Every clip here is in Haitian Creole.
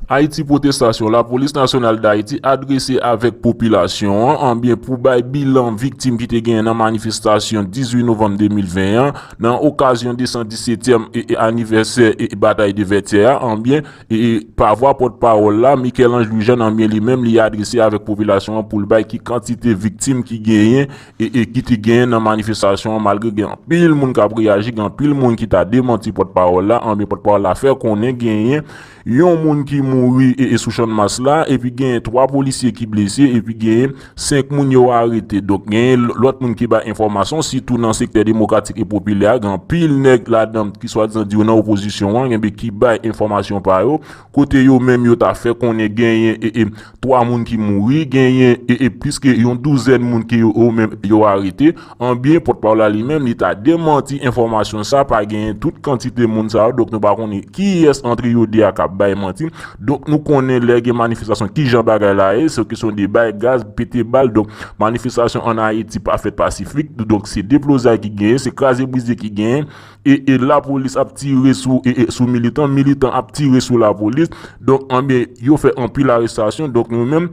Ayiti Pwotestasyon Lapolis Nasyonal Dayiti adrese avèk popilasyon an anbyen pou bay bilan viktim ki te genyen nan manifestasyon 18 novanm 2020 an nan okazyon 217 tyèm anivèsè Batay de Vètyè a anbyen pa vwa pòt pawòl la Michel-Ange Louis-Jean anbyen li menm li adrese avèk popilasyon an pou l bay ki kantite viktim ki genyen e e ki te genyen nan manifestasyon an malgre gen anpil moun kap reyaji gen anpil moun ki ta demanti pòt pawòl la anben pòt pawòl la fè konnen genyen yon moun ki mouri e e sou channmas la epi genyen 3 polisye ki blese epi genyen 5 moun yo arete donk genyen lòt moun ki bay enfòmasyon sitou nan sektè demokratik e popilè a gen anpil nèg ladan ki swadizan di yo nan opozisyon an enben ki bay enfòmasyon pa yo kote yo menm yo ta fè konnen genyen ee 3 moun ki mouri, genyen ee plis ke yon douzèn moun ke yo menm yo arete, anbyen pòtpawòl la li menm li ta demanti enfòmasyon sa pa genyen tout kantite moun sa yo, donk nou pa konnen kiyès antre yo 2 a kap bay manti, donk nou konnen lè gen manifestasyon kijan bagay la ye, se kesyon de bay gaz, pete bal, donk manifestasyon an Ayiti pa fèt pasifik, donk se deblozay ki genyen, se kraze brize ki genyen. ee la polis ap tire sou ee sou militan militan ap tire sou la polis donk anbyen yo fè anpil arestasyon donk nou menm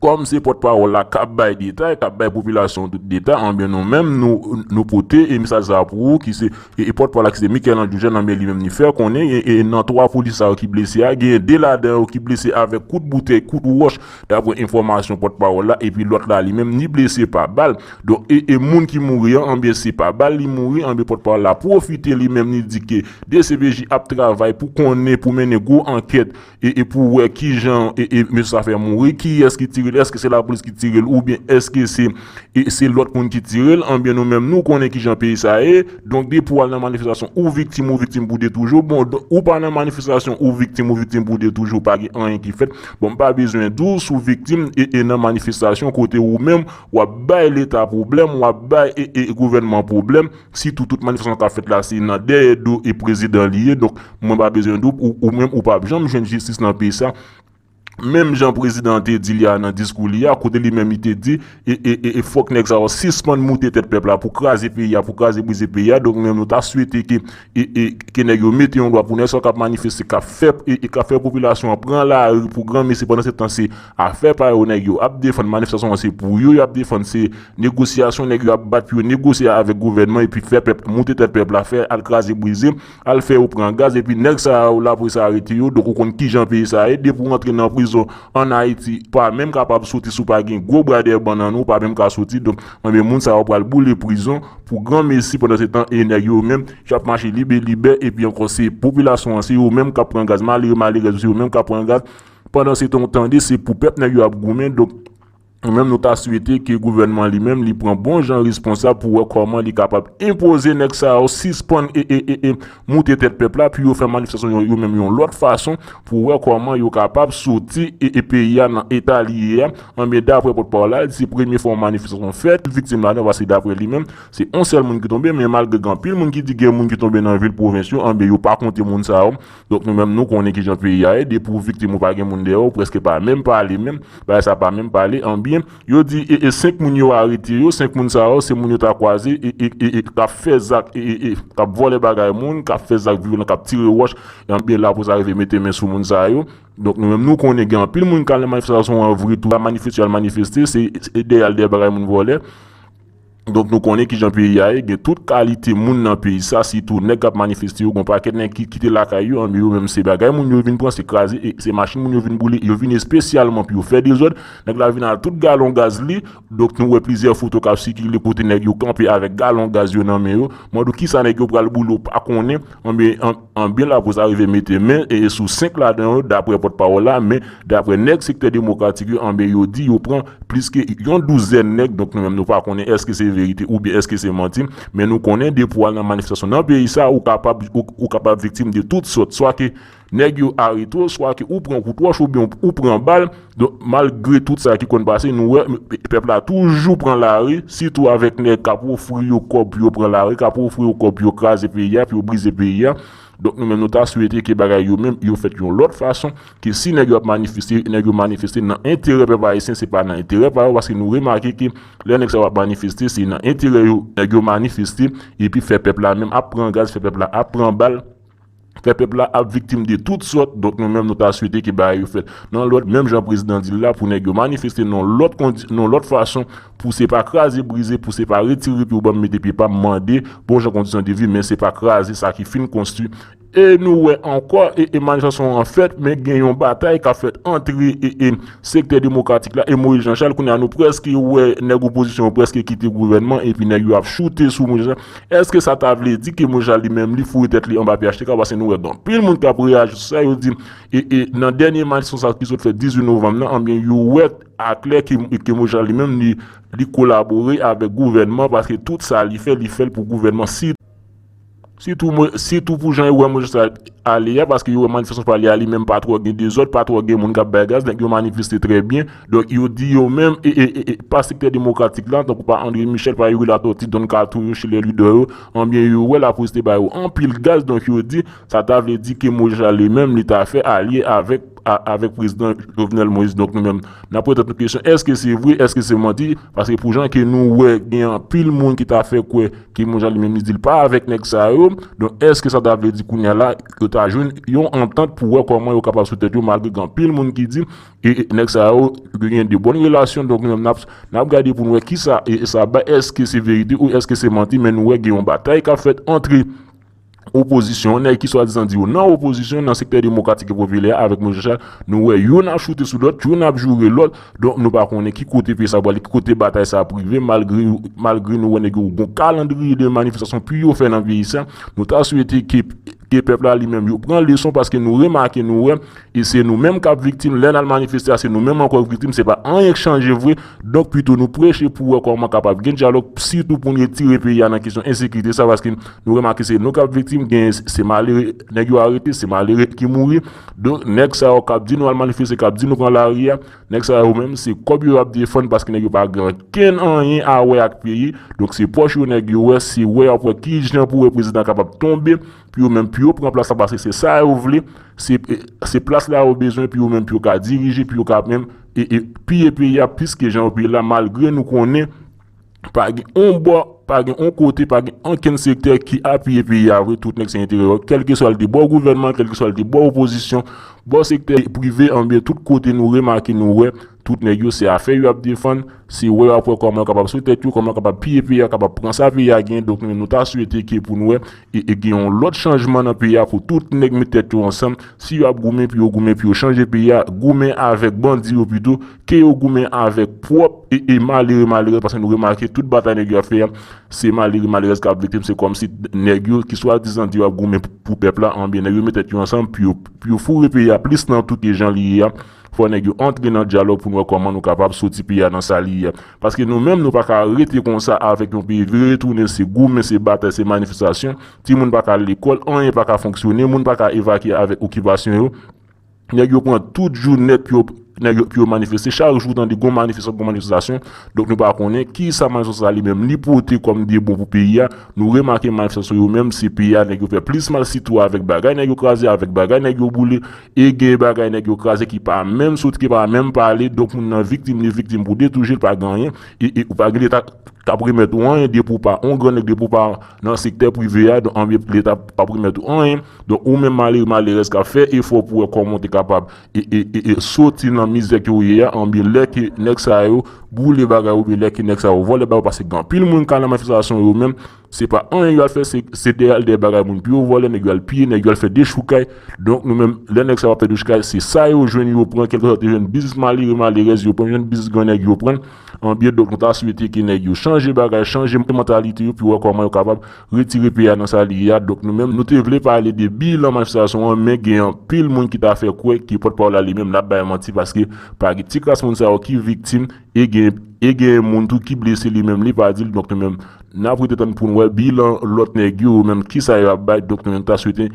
kòm se pòt pawòl la kap bay detay kap bay popilasyon tout detay anbyen nou menm nou nou pote ee mesaj sa pou ou ki se ee pòt pawòl la ki se Michel Andjou Jeune anbyen li menm li fè konnen ee nan 3 polis sa yo ki blese a genyen 2 ladan yo ki blese avèk kout boutèy kout wòch Daprè enfòmasyon pòt pawòl la epi lòt la li menm ni blese pa bal donk e e moun ki mouri an anbyen se pa bal li mouri anbyen pòt pawòl la pwofite li menm li di ke dcpj ap travay pou konnen pou mennen gwo ankèt e e pou wè kijan e e mesye sa fè mouri kiyès ki tire l èske se lapolis ki tire l oubyen èske se e se lòt moun ki tire l anbyen nou menm nou konnen kijan peyi sa ye donk depi w al nan manifestasyon ou viktim ou viktim pou de toujou bon ou pa nan manifestasyon ou viktim ou viktim pou de toujou pa gen anyen ki fèt Bon m pa bezwen di w si w viktim ee nan manifestasyon kote ou menm w ap bay leta pwoblèm, w ap bay ee gouvènman pwoblèm, sitou tout manifestasyon k ap fèt la se nan dèyè do ee prezidan li ye, donk mwen pa bezwen di w ou menm ou p ap janm jwenn jistis nan peyi sa, menm jan prezidan an te di li a nan diskou li a kote li menm li te di ee fòk nèg sa yo sispann moute tèt pèp la pou kraze peyi a, pou kraze brize peyi a, donk nou menm nou ta swete ke e ke nèg yo mete yon lwa pou nèg sa yo kap manifeste kap fè e kap fè popilasyon an pran lari pou gran mesi pandan se tan se afè pa yo nèg yo ap defann manifestasyon an se pou yo yap defann se negosyasyon nèg yo ap bat pou yo negosye avèk gouvènman epi fè pèp moute tèt pèp la fè al kraze brize al fè yo pran gaz epi nèg sa yo lapolis arete yo donk ou konn kijan peyi sa ye depi ou rantre nan prizon an ayiti pa menm kapab soti si ou pa gen gwo bradè bannan ou pa menm ka soti donk. Ebyen moun sa yo pral boule prizon pou gran mesi pandan se tan e nèg yo menm ki ap mache libe libè epi ankò se popilasyon an se yo menm kap pran gaz malere malerèz yo se yo menm kap pran gaz pandan se tan ou tande se pou pèp nèg yo ap goumen donk nou menm nou ta swete ke gouvènman li menm li pran bon jan responsab pou wè kòman li kapab enpoze nèg sa yo sispann ee moute tèt pèp la pu yo fè manifestasyon yo menm yon lòt fason pou wè kòman yo kapab soti ee peyi a nan eta li ye a. Anben daprè pòtpawòl la, se premye fwa yon manifestasyon fèt, tout viktim ladan paske daprè li menm, se yon sèl moun ki tonbe men malgre gen anpil moun ki di gen moun ki tonbe nan vil pwovens yo, anben yo pa konte moun sa yo. Donk nou menm nou konnen kijan peyi a ye, depi ou viktim ou pa gen moun dèyè ou, prèske pa menm pale menm, bagay sa pa menm pale, anben yo di e e 5 moun yo arete yo, 5 moun sa yo se moun yo ta kwaze e e e e kap fè zak e e e kap vòlè bagay moun, kap fè zak vyolan, kap tire wòch, anben la polis arive mete men sou moun sa yo. Donk nou menm nou konnen gen anpil moun kale manifestasyon an vre tou, al manifeste yo al manifeste se dèyè al dèyè bagay moun vòlè. Donk nou konnen kijan peyi a ye, gen tout kalite moun nan peyi sa sitou nèg k ap manifeste yo, gen yon pakèt nèg ki kite lakay yo anben yo menm se bagay moun yo vin pran, se kraze, se machin moun yo vin boule, yo vini espesyalman pou yo fè dezòd, nèg la vin ak tout galon gaz li. Donk nou wè plizyè foto kap sikile kote nèg yo kanpe avèk galon gaz yo nan men yo, mandou kisa nèg yo pral boule w pa konnen, anben lapolis arive mete men sou 5 ladan yo daprè pòt pawòl la men daprè nèg sektè demokratik yo anben yo di yo pran plis ke yon douzèn nèg donk nou menm nou pa konnen èske se verite oubyen èske se manti men nou konnen depi w al nan manifestasyon nan peyi sa ou kapab viktim de tout sòt swa ke Nèg yo arete w swa ke ou pran kout wòch oubyen ou pran bal, donk malgre tout sa ki konn pase nou wè pèp la toujou pran lari sitou avèk nèg kap ofri yo kòb pou yo pran lari kap ofri yo kòb pou yo kraze peyi a pou yo brize peyi a donk nou menm nou ta swete ke bagay yo menm yo fèt yon lòt fason ke si nèg yo ap manifeste nèg yo manifeste nan enterè pèp ayisyen se pa nan enterè pa yo paske nou remake ke lè nèg sa yo ap manifeste se nan enterè yo nèg yo manifeste epi fè pèp la menm ap pran gaz fè pèp la ap pran bal. Fè pèp la ap viktim de tout sòt donk nou menm nou ta swete ke bagay yo fèt nan lòd menm jan prezidan di l la pou nèg yo manifeste nan lòt kondi nan lòt fason pou se pa kraze brize pou se pa retire pye w banm mete pye pa m mande bon jan kondisyon de vi men se pa kraze sa ki fin konstwi e nou wè ankò e e manifestasyon an fèt men gen yon batay k ap fèt antre e e Sektè demokratik la e Moyiz Janchal kounye a nou prèske wè nèg opozisyon yo prèske kite gouvènman epi nèg yo ap choute sou Moyiz Janchal, èske sa ta vle di ke Moyiz Janchal li menm li foure tèt li anba phtk paske nou wè gen anpil moun kap reyaji sou sa yo di e e nan dènye manifestasyon sa ki sot fèt 18 novanm nan anbyen yo wè a klè ke ke Moyiz Janchal li menm li li kolabore avèk gouvènman paske tout sa li fè li fèl pou gouvènman si Sitou pou jan yo wè majistra ale a, paske yo wè manifestasyon pale a li menm pa twò gen dezòd, pa twò gen moun k ap bay gaz, nèg yo manifeste trè byen. Donk yo di yo menm, pa sektè demokratik la, tankou pa Andre Michèl, pa Youri Latòti, Don Kato yo, Chilè Lidò yo, anbyen yo wè lapolis te ba yo anpil gaz, donk yo di sa ta vle di ke Moise Charles li menm li ta fè alye avèk prezidan Jovenel Moise. Donk nou menm n ap poze tèt nou kesyon, èske se vre, èske se manti? Paske pou jan ke nou wè gen anpil moun ki ta fè kwè. Ke mwen jan li menm li dil pa avèk nèg sa yo, donk èske sa ta vle di kounya la yo ta jwenn yon antant pou wè kòman yo kapab sou tèt yo malgre gen anpil moun ki di nèg sa yo yo gen de bòn relasyon donk nou menm nap nap gade pou nou wè kisa sa bay èske se verite ou èske se manti men nou wè gen yon batay kap fèt antre Opozisyon, nèg ki swadizan di yo nan opozisyon nan sektè demokratik e popilè avèk M. Jean Charles, nou wè youn ap choute sou lòt, youn ap joure lòt, donk nou pa konnen ki kote peyi sa ap prale, ki kote batay sa ap rive, malgre nou wè nèg yo gon kalandriye de manifestasyon pu yo fè nan peyi sa, nou ta swete ke pèp la li menm yo pran leson paske nou remake nou wè E se nou menm kap viktim lè nal manifeste a se nou menm ankò ki viktim se pa anyen k chanje vre donk pito nou preche pou wè kòman kapab gen dyalòg sitou poun retire peyi a nan kesyon ensekirite sa paske nou remake se nou kap viktim genyen se malere nèg yo arete se malere ki mouri donk nèg sa yo kap di nou al manifeste kap di nou pran lari a nèg sa yo menm se kòb yo yap defann paske nèg yo pa gen ankenn anyen a wè ak peyi donk se pòch yo nèg yo wè se wè yap wè kijan pou wè prezidan kapab tonbe Pou yo menm, pou yo pran plas la paske se sa yo vle, se plas la yo bezwen pou yo menm pou yo ka dirije, pou yo ka menm piye peyi a plis ke jan yo piye l la malgre nou konnen pa gen yon bò, pa gen yon kote, pa gen okenn sektè ki apiye peyi a vre, tout nèg se enterè yo. Kèlkeswa li te bò gouvènman, kèlkeswa li te bò opozisyon, bò sektè prive, anben tout kote nou remake, nou wè, tout nèg yo se afè yo ap defann, se wè yo ap wè kòman yo kapab sou tèt yo, kòman yo kapab piye peyi a, kapab pran sa peyi a genyen, donk nou ta swete ke pou nou wè. E gen yon lòt chanjman nan peyi a pou tout nèg met tèt yo ansanm, si yo ap goumen pou yo goumen pou yo chanje peyi a, goumen avèk bandi yo pito, ke yo goumen avèk pwòp e malere malere, paske nou remake tout batay nèg yo ap fè a, se malere malerèz k ap viktim, se kòmsi nèg yo ki swadizan di yo ap goumen pou pèp la, anben nèg yo met tèt yo ansanm pou yo foure peyi a plis nan tou ke jan li ye a, fò nèg yo antre nan dyalòg pou nou wè kòman nou kapab soti peyi a nan sa li ye a. Paske nou menm nou pa ka rete konsa avèk yon peyi vire tounen se goumen se batay se manifestasyon, timoun pa ka al lekòl, anyen pa ka fonksyone, moun pa ka evakye avèk okipasyon yo, nèg yo pran tout jou nèt pou yo nèg yo pou yo manifeste, chak jou ou tande gon manifestasyon gon manifestasyon, donk nou pa konnen kisa manifestasyon sa li menm li pote kòm debon pou peyi a, nou remake manifestasyon yo menm se peyi a nèg yo fè plis mal sitou avèk bagay nèg yo kraze avèk bagay nèg yo boule, E gen bagay nèg yo kraze ki pa menm soti ki pa menm pale donk moun nan viktim li viktim pou de tou je l pa gen anyen e ou pa gen leta kap remèt ou anyen depi ou pa on gran nèg depi ou pa nan sektè prive a donk anyen leta pap remèt ou anyen donk ou menm malere malerèz kap fè efò pou wè kòman ou te kapab e soti nan mizè ke ou ye a anyen lè ke nèg sa yo boule bagay oubyen lè ke nèg sa yo vòlè bagay paske gen anpil moun ka nan manifestasyon yo menm Se pa anyen yo al fè se dèyè al dèyè bagay moun pou yo vòlè nèg yo al piye nèg yo al fè dechoukay donk nou menm lè nèg sa yo ap fè dechoukay se sa yo jwenn yo pran kèlkeswa te jwenn biznis malere malerèz yo pran jwenn biznis gran nèg yo pran anbyen donk nou ta swete ke nèg yo chanje bagay chanje mantalite yo pou yo wè kòman yo kapab retire peyi a nan sa li ye a donk nou menm nou te vle pale de bilan manifestasyon an men gen anpil moun ki ta fè kwè ke pòtpawòl la li menm l ap bay manti paske pa gen ti kras moun sa yo ki viktim E gen yon moun tou ki blese li menm li pa dil donk nou menm nap rete tann poun wè bilan lòt nèg yo yo menm kisa yo ap bay donk nou menm ta swete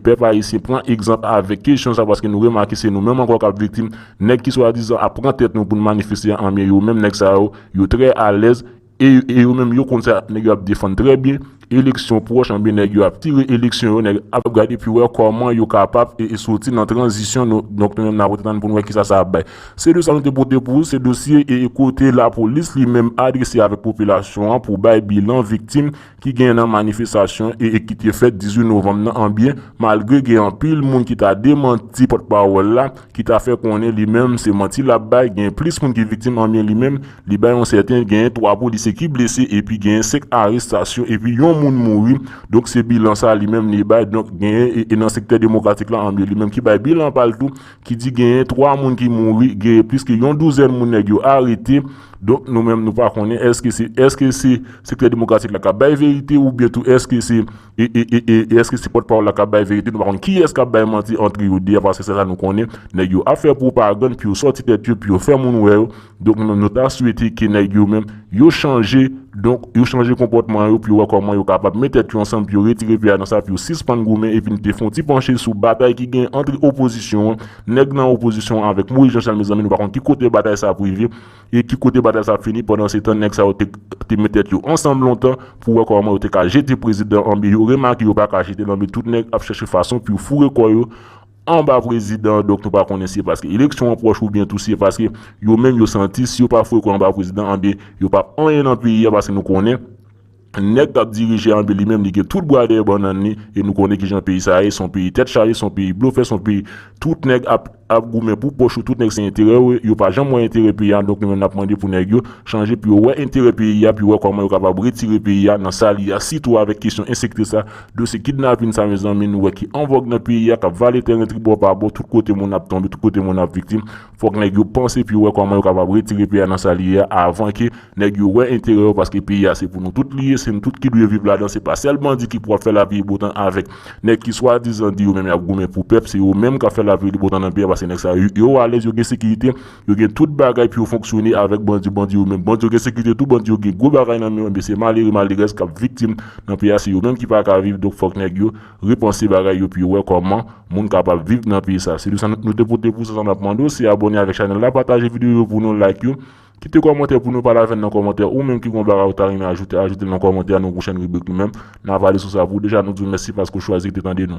pèp ayisyen pran egzanp avèk kesyon sa paske nou remake se nou menm ankò kap viktim nèg ki swadizan ap pran tèt nou poun manifeste anben yo menm nèg sa yo yo trè alèz E yo menm yo konn sa nèg yo ap defann trè byen, eleksyon pwòch anben nèg yo ap tire eleksyon yo nèg ap gade pu wè kòman yo kapab soti nan tranzisyon donk nou menm nap rete tann poun wè kisa sa ap bay. Se de sa nou te pote pou ou se dosye kote lapolis li menm adrese avèk popilasyon an pou bay bilan viktim ki gen nan manifestasyon e ki te fèt 18 novanm nan anbyen malgre gen anpil moun ki ta demanti pòt pawòl la ki ta fè konnen li menm se manti lap bay gen plis moun ki viktim anbyen li menm li bay yon sèten gen 3 polisye ki blese epi gen 5 arestasyon epi yon moun mouri donk se bilan sa li menm li bay donk gen e nan sektè demokratik la anbyen li menm ki bay bilan pal tou ki di genyen 3 moun ki mouri genyen plis ke yon douzèn moun nèg yo arete donk nou menm nou pa konnen èske se èske se sektè demokratik la kap bay verite oubyen tou èske se èske se pòtpawòl la kap bay verite nou pa konn kiyès kap bay manti antre yo 2 a paske se sa nou konnen nèg yo ap fè pwopagann pou yo sòti tèt yo pou yo fè moun wè yo Donk nou ta swete ke nèg yo menm, yo chanje, donk yo chanje konpòtman yo pou yo wè kòman yo kapab met tèt yo ansanm pou yo retire peyi a nan sa, pou yo sispann goumen epi nou te fon ti panche sou batay ki genyen antre opozisyon an, nèg nan opozisyon an avèk Moyiz Janchal mezanmi nou pa konn ki kote batay sa ap rive e ki kote batay sa ap fini pandansetan nèg sa yo te met tèt yo ansanm lontan pou wè kòman yo te ka jete prezidan anbe yo remake yo pa ka jete l anbe tout nèg ap chache fason pou yo foure kò yo anba prezidan dòk nou pa konnen si se paske eleksyon an pwòch oubyen tou si se paske yo menm yo santi si yo pa foure kò anba prezidan anben yo pap anyen nan peyi a paske nou konnen nèg kap dirije a anben li menm li gen tout bwa dèyè bannann li e nou konnen kijan peyi sa a ye son peyi tèt chaje son peyi blofè son peyi tout nèg ap ap goumen pou pòch yo tout nèg se enterè yo yo pa janm wè enterè peyi a donk nou menm nap mande pou nèg yo chanje pou yo wè enterè peyi a pou yo wè kòman yo kapab retire peyi a nan sa li a sitou avèk kesyon ensekite sa. Dosye kidnapin sa mezanmi nou wè ki anvòg nan peyi a kap vale tèren tribò pa bò tout kote moun ap tonbe tout kote moun ap viktim fòk nèg yo panse pu wè kòman yo kapab retire peyi a nan sa li ye a avan ke nèg yo wè enterè yo paske peyi a se pou nou tout li ye se nou tout ki dwe viv ladan se pa sèl bandi ki pou ap fè lapli botan avèk nèg ki swadizan di yo menm yap goumen pou pèp se yo menm kap fè lapli botan nan peyi a paske nèg sa yo yo alèz yo gen sekirite Yo gen tout bagay pou yo fonksyone avèk bandi, bandi yo menm. Bandi yo gen sekirite tou, bandi yo gen gwo bagay nan men yo enben se malere, malerèz k ap viktim nan peyi a se yo menm ki pa ka viv donk fòk nèg yo repanse bagay yo pou yo wè kòman moun kapab viv nan peyi sa. Se te sa nou te pote pou w se sa n ap mande w se abòne avèk chanèl la, pataje videyo yo pou nou, like yo, kite kòmantè pou nou pale avè n nan kòmantè ou menm ki gon bagay ou ta renmen ajoute ajoute l nan kòmantè a nan pwochèn ribrik nou menm n ap ale sou sa pou w deja nou di w mèsi paske w chwazi rete tande nou.